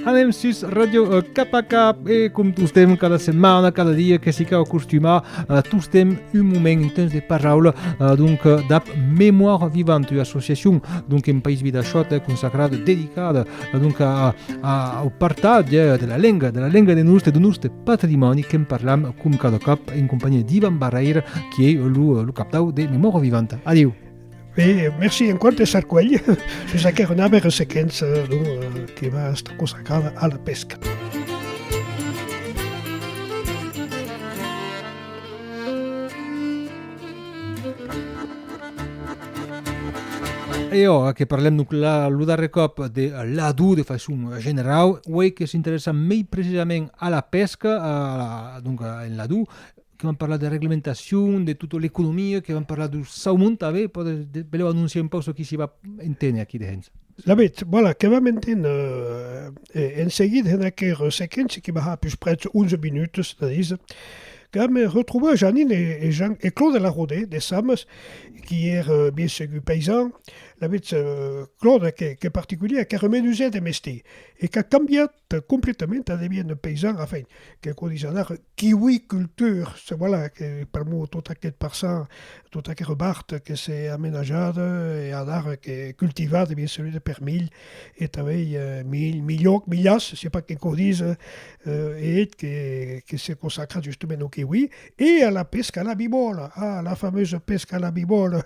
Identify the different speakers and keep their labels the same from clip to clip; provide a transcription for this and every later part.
Speaker 1: Anem sus Radio euh, Cap a Cap e com tostem cada setmana, cada dia que si cau acostumar, euh, tostem un moment, un temps de paraula, euh, donc d'ap Mémoire Vivante, associacion, donc en País Vidachot, consacrada, dedicada va donc a, a, a, au partatge eh, de la lenga, de la lenga de nostre, de nostre patrimòni qu'en parlam com cada còp en compagnia d'Ivan Barreira, qui ei lo, lo captau de Memòria Vivanta. Adiu! Bé, merci
Speaker 2: en quant de Sarcuell, sus aquel renave ressequents eh, donc, eh, que va estar consagrada a la pesca.
Speaker 1: E ora que parlem donc la, lo darrer còp de l'adú de façon generau, uei que s'interessa mei precisament a la pesca, a la, donc en l'adú, que vam parlar de reglementacion, de tota l'economia, que vam parlar dau saumon tanben, pòt èsser, beleu anonciar un pauc çò qu'i s'i va enténer aquí dehens. Lamet, voilà,
Speaker 2: que vam enténer en seguida en aquera sequéncia que va har pus prètz 11 minutas, 13, Damb retrobar Janine e Jean e Claude Larode de Sames, qui ère bien segur paysan, lavetz Claude qu'es particulièr, qu'ère menusèr de mestier e qu'a cambiat completament a deviéner paysan, enfin, que quò dise anar kiwiculteur, se voilà que pr'amor tot aqueth parçan, tota aquera bart que s'è amenajada e anar que cultivar de bien segur de permilh e tanben milh, milhòc, milhas, se pas que quò dise, e eth que se consacra justement au kiwi e a la pesca a la bibòla, a la fameusa pesca a la bibòla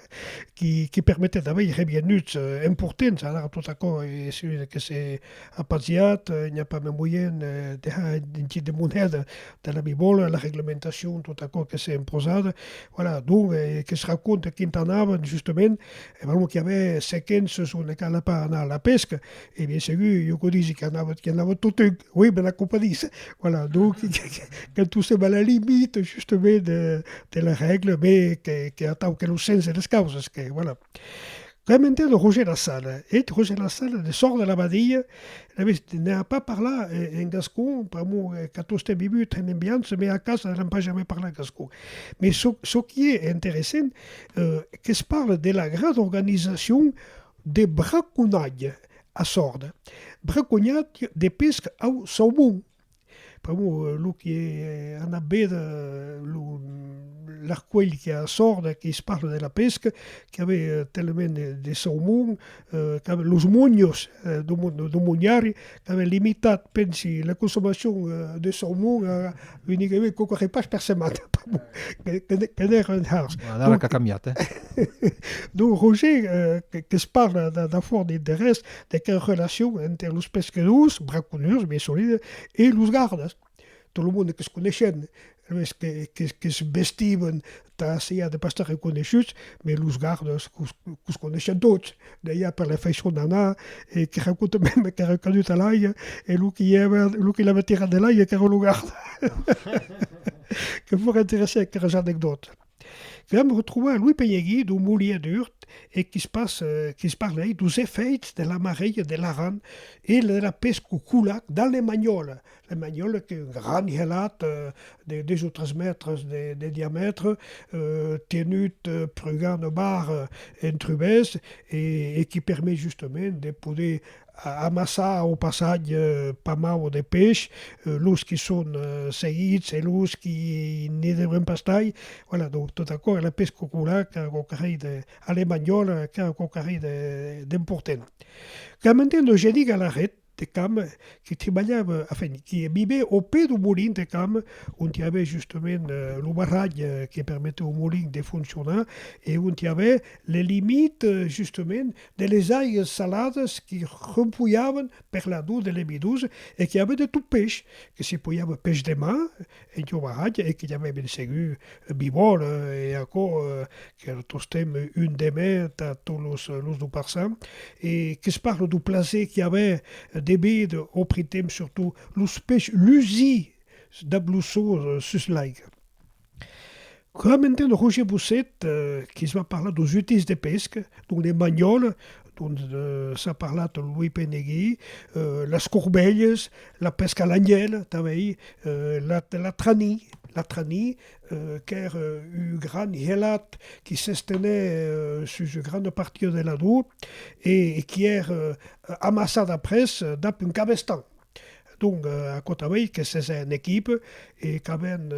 Speaker 2: qui permetèt a veir revenuts importants, ara tot aquò es un que s'est apaziat, i n'i a pas mai moyen de har un tit de moneda de la bibòla, la reglementacion, tot aquò que s'est imposat, voilà, donc que se raconte quint'anavan justement E ben, lo qu'i avè sequens sus una cana per anar a la pesca, e bien segur, jo quò disi qu'i anava, qu'i anava totun, oui, me n'acompadís? Voilà, donc, quand tu sèm a la limite, justament, de, de la règle, me que, que atau que lo sens de las causas, que, voilà. Quand m'entend Roger Lassana, eth Roger Lassana de sòrt de l'abadia, anaves, ne a pas parlar en, en gascon, pr'amor qu'a tostemp vivut en Embiança, me a casa n'an pas jamais parlat gascon. Mais çò, çò qu'i é interessent, que's parle de la gran organizacion de braconatge a Sòrd, braconatge de pesca au saumon, pr'amor lo qui ei anat véder lo l'arcuelh qui a Sòrd que's parle de la pesca, qui avei talament de saumon, qu'avèn los monhos do mon do monhari qu'avèn limitat pensi la consomacion de saumon a unigamai quauqua repais per setmana que n'èra un hars. Ara la qu'a cambiat eh. Donc Roger que's parla d'afòrt d'interès de que'u relacion enter los pescadors, braconhers, bien solide, e los gardas. Tot lo monde que's coneishen, es que que's vestiben tà siá de pas estar reconeishuts, mès los gardas que's coneishen tots dejà per la faishon d'anar e que raconten mème qu'èran caduts a l'aiga e lo que i l'avèt tirat de l'aiga qu'èra lo garda. Que fòra interessant aqueras anecdòtas. Vam retrobar Louis Penyegui dau Molièr d'Urt e que's parlèi dos efèits de la marèia de l'Aran e de la pesca au coulac dal Lemanhòla. Lemanhòla qu'es un gran gelat de dus o tres mètres de diamètre tenut prugant au bar en trubèth e qui permet justament de poder Amassar au passatge pas mau de peish, los qui son seguits e los qui ne deurien pas tai, voilà, donc tot aquò era pesca cola qu'era quauque hèit de, a l'emanhòl, qu'era quauque hèit d'importent. Qu'a mantèn lo geni Galahèt de Cam qui tribalhava, enfin, qui vivé au pè dau molin de Cam, ont i avè justament lo barratge que permetèu au molin de foncionar e ont i avè les limites, justament, de les aigas saladas qui rempujavan per la dor de l'emidosa e qui avèt de tot pech, que se pujava pech de mar en jovaratge e que j'avè ben segur bivòla e aquò qu'èra tostemp un demè tà tot los los do Parçan e que's parla do plaser qui avè de véder au printemps surtot los pech lusir dab lo sol sus l'aiga. Coma entén Roger Bousset, que's va parlar dos utils de pesca, donc les manholes, dont s'a parlat Louis Penegui, las corbelhes, la pesca a l'anhèla tanben, la la trani, la trani, qu'ère un gran helat qui s'estenait sus una grana partida de la Drò e qui ère amassat après dab un cabestan. Donc, aquò tanben ei que s'es un equip e qu'avèn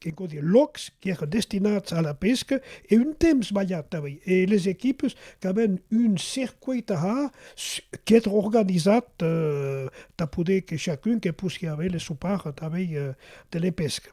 Speaker 2: que cau dire lòcs qui èran destinats a la pesca e un temps balhat tanben e les equipes qu'avèn un circuit a har qui èt organisat tà poder que chacun que possiá aver le sou part tanben de la pesca.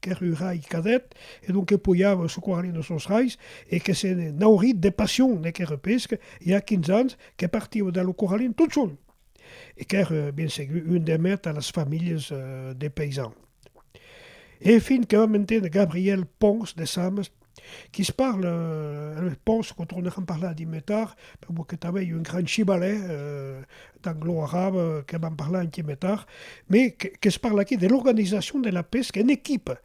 Speaker 2: qu'ère un rai cadet, e donc que poiava socorralin de sos rais, e que se ne naurit de passion de qué repesc, i a quinze ans, que partiva de lo corralin tot sol, e qu'ère bien segur un de mèt a las familhas de paysans. E fin que vam entendre Gabriel Pons de Sames, Qu'i se parle, eles pense que torneran parlar d'i mai tard, per vos que tanben un grand chibalè d'anglo arab que van parlar un ti mai tard, mais que se parle aquí de l'organisation de la pesca en equipe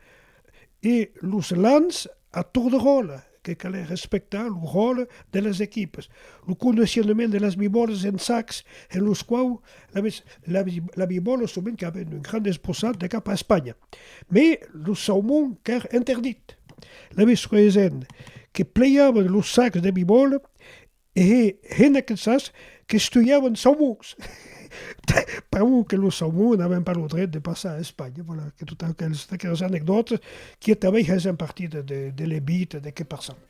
Speaker 2: e los lans a torn de ròle, que calè respectar lo ròle de las equipes, lo condicionament de las bibòlas en sacs en los quaus Alavetz, la bibòla sovent qu'a ben un grand esbossat de cap a Espanha, mès lo saumon qu'ère interdit. Alavetz creesent que pleiavan los sacs de bibòla e hè hèn aquesas qu'estuiavan saumons, pr'amor que los saumons n'aven pas lo dret de passar a Espanha. Voilà, que tot aqueles, d'aquelas anecdòtas, quieta vei hèsent partir de, de, de l'Ebit, de qué passava.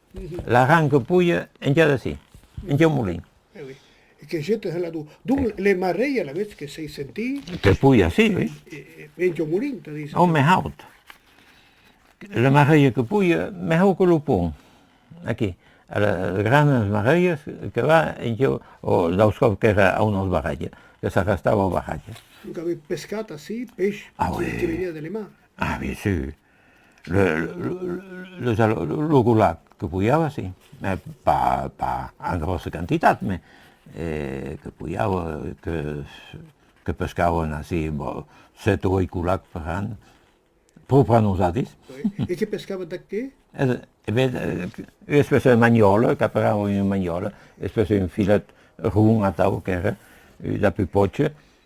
Speaker 3: La ran que puja enja d'ací, enja au molin. Eh oui. E
Speaker 2: que jeta hèla d'au. Donc le marrelh alavetz que s'ei sentit. Que puja ací, oui.
Speaker 3: Enja au molin,
Speaker 2: tà díser. Au mès haut.
Speaker 3: Le marrelh que puja mès haut que lo pont. Aquí. Era granes marrelhes que va enja au. Daus còps qu'èra a unos barratges, que s'arrestava au barratge. Donc avètz pescat
Speaker 2: ací peish que veniá de
Speaker 3: le mar.
Speaker 2: Ah, bien sûr.
Speaker 3: Lo gulag que poiava, si, pas en gròssa quantitat, mès que poiava, que pescavan ací sèt o ueit gulags per an, pro per a nosati. E que pescavan
Speaker 2: tà qué? E ben,
Speaker 3: ua espècia de manhòla, qu'aperavan ua manhòla, espècia d'un filet ron atau qu'èra, ua pupòcha,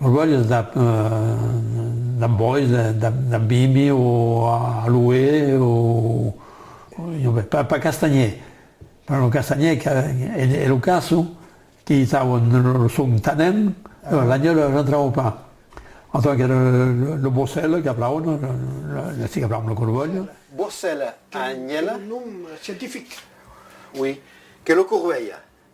Speaker 4: Rogolhas dab dab bois dab bibi o aloe o jo be pas pas castanhier per lo castanhier que e lo casso que i taua lo son tanèm l'agneul rentrava pas en tant que lo bocèl que plaun lo si que plaun lo corvèl. Bocèl a
Speaker 5: agnèl. Nom
Speaker 2: scientific. Oui
Speaker 5: que lo corvèl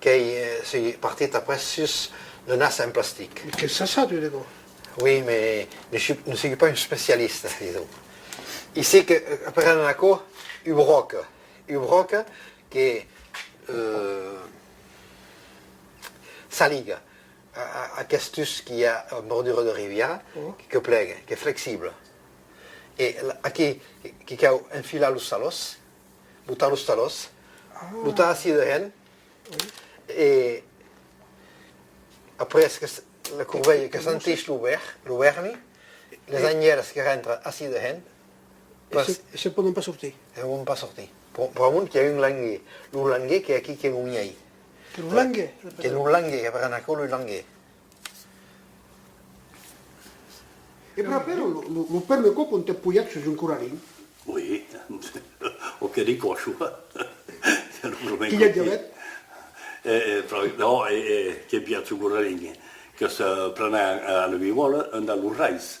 Speaker 5: Qu'ei si partit après sus le nas en plastic. Que ça ça, tu dego?
Speaker 2: Oui, mais
Speaker 5: ne sigue pas un specialiste, disons. Isic prenen aquò u broc, u broc que s'aliga a questus qui a en bordura de riviera, que plegue, qu'es flexible. E aquí que cau enfilar los salòs. Botar los talòs. Botar acier de hèn e après que la corvelha que sentís lo vèr, lo vèrni, las anhèlas que rentra acier de hèn. E
Speaker 2: se pòdon pas sortir. E pòdon pas sortir.
Speaker 5: Pr'amont qu'i a un languer. Lo languer qu'es aquí que lo miei. Que lo languer.
Speaker 2: Que lo languer, que per
Speaker 5: anar aquò lo languer.
Speaker 2: E prapèr lo pèrme quò quant t'è pujat sus un corrarin? Oi,
Speaker 6: o que dico aciò?
Speaker 2: Qu'i ja
Speaker 6: diabèt? No, e qu'i è pujat sul corrarin que se prenè a la viuòla enda los rais.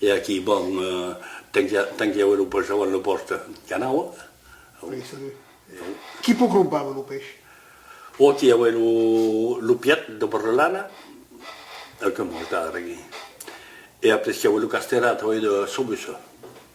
Speaker 6: E aquí, bon, tanquiève lo pes avant lo pòste. Qu'anava? Salut, salut.
Speaker 2: Qui po crompava lo pes? O aquí
Speaker 6: aué lo piet de porcelana, e que mos dava aquí. E apres qu'i aué lo casterat, oi, de Sobusa.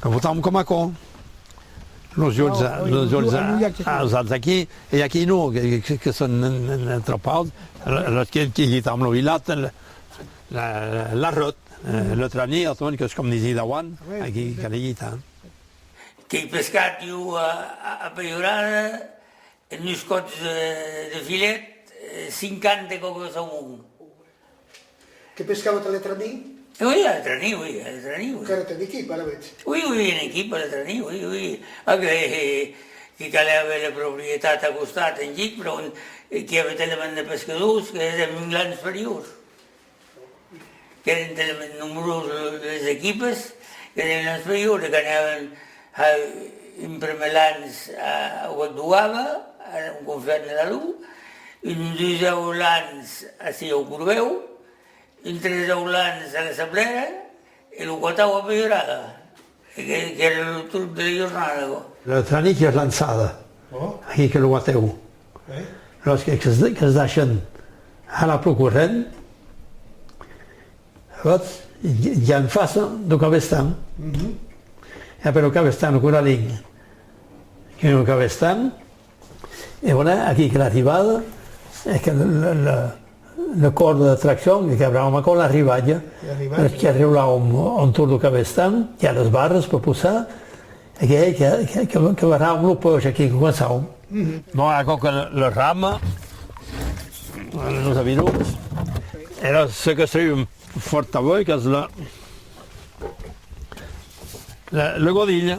Speaker 4: Que votà'm coma aquò. Los jols, los jols ausats aquí, e aquí non, que son tropaus, los que quità'm lo vilat, l'arròt, lo tranier, los monques, com disi'c dauant, aquí que li quità. Qu'ei
Speaker 7: pescat iu a pejorada, en dus còps de filet, cinquanta còcos au mond.
Speaker 8: Que pescava ta
Speaker 7: letra ni?
Speaker 8: Ui, a letra ni, ui, a letra ni, ui. Qu'ara
Speaker 7: t'en equipa, ara veig. Ui, ui, en equipa, a letra ni, ui, ui. Ac, he, he, que calè aver la proprietat a costat, en gic, per on qu'i ave telement de pescadors, que heren un gran superior. Qu'eren telement nombroses les equipas, qu'eren un gran superior, e qu'anaven, A un prumèr lanç a Wad Bouaba, a un conflèch de Lalou, un deusau lanç a Sieu Corbèu, un tresau lanç a la Sablèra e lo quatau a Peirada, qu'èra lo torn de la jornada. La tranica es
Speaker 4: lançada aquí que lo matèu los que es deishen a la pro corrent. Votz, ja en fasa do cabestan, ja per lo cabestan coralin, que lo cabestan e voilà aquí que l'arribada e que le còrda d'atraccion e que abrau macò l'arribatge, perque arriu là ont lo cabestan, qu'i a las barras per posar, Que lo ram lo pòge aquí que començam. Bon aquò que lo ram nos avirons era se que sèu fòrt avoi que es la le godilh.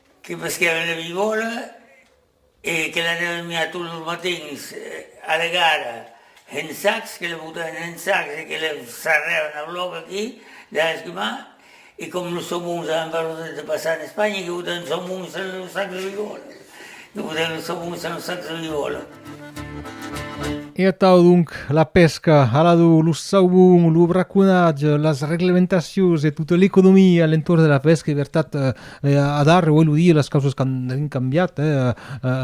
Speaker 7: Que pesquèra una vivòla e que l'anèren miar tots los matins a la gara en sacs, que la botèren en sacs e que la sarrèren a lòc aquí dins l'esquimar e com los saumons avan pas lo dret de passar en Espanha que botèren los saumons dins los sacs de vivòla, que botèren los saumons dins los sacs de vivòla.
Speaker 1: E atau donc la pesca, alado lo saubon, lo braconatge, las reglementacions e tota l'economia a l'entorn de la pesca, en vertat, eh, a darrèr uèi lo dia las causas qu'an avèn cambiat, eh,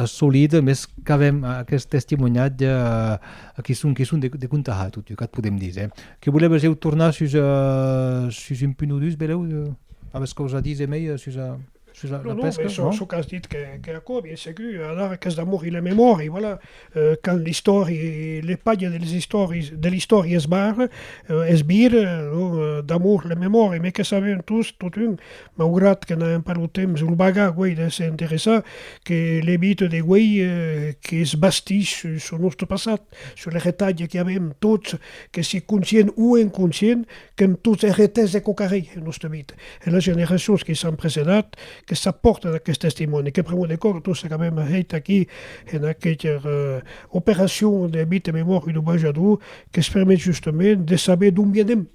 Speaker 1: solid, mès qu'avèm aqueth testimoniatge qui son qui son de de contar a toti, qu'a podem díser. Que voleves eu tornar sus sus un punt o dus, Belèu? Aves causa a díser mei sus a? Sus la, la non, pesca, non, çò qu'as dit
Speaker 2: qu'es aquò, bien segur, alara qu'es d'amor i la memòria, voilà, quand l'istòri, le palha de les istòris, de l'istòri es bar, es bir, non, d'amor la memòria, me que sabèm tous, totun, maugrat que n'aèm pas lo temps o lo baga guei de se interessar, que le mite de guei qu'es bastís sus lo nòste passat, sus le retalhe qu'avèm tots, que si conscient o inconscient, qu'en tot es retès de cocarei en nòste mit, e las generacions que s'an precedat, que s'apòrtan aqueth testimòni, que pr'amor de cor, tostes qu'avem hèit aquí en aqueth operacion de mit e memòria dau Bajador, qu'es permet justement de saber d'on vienem,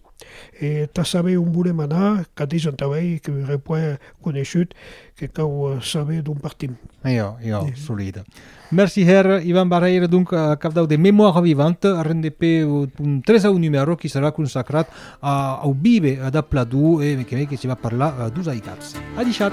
Speaker 2: e tà saber on volem anar, qu'a deisent auei, que ure puèi coneishut, Que cau saber d'on partim. Iò, iò,
Speaker 1: solid. Merci hèr Ivan Barrèira, donc cap dau de Mémoire vivante, arren de pe un tresau numèro qui serà consacrat au vive de Pladú e me queme que se va parlar dus aitats. Adishat!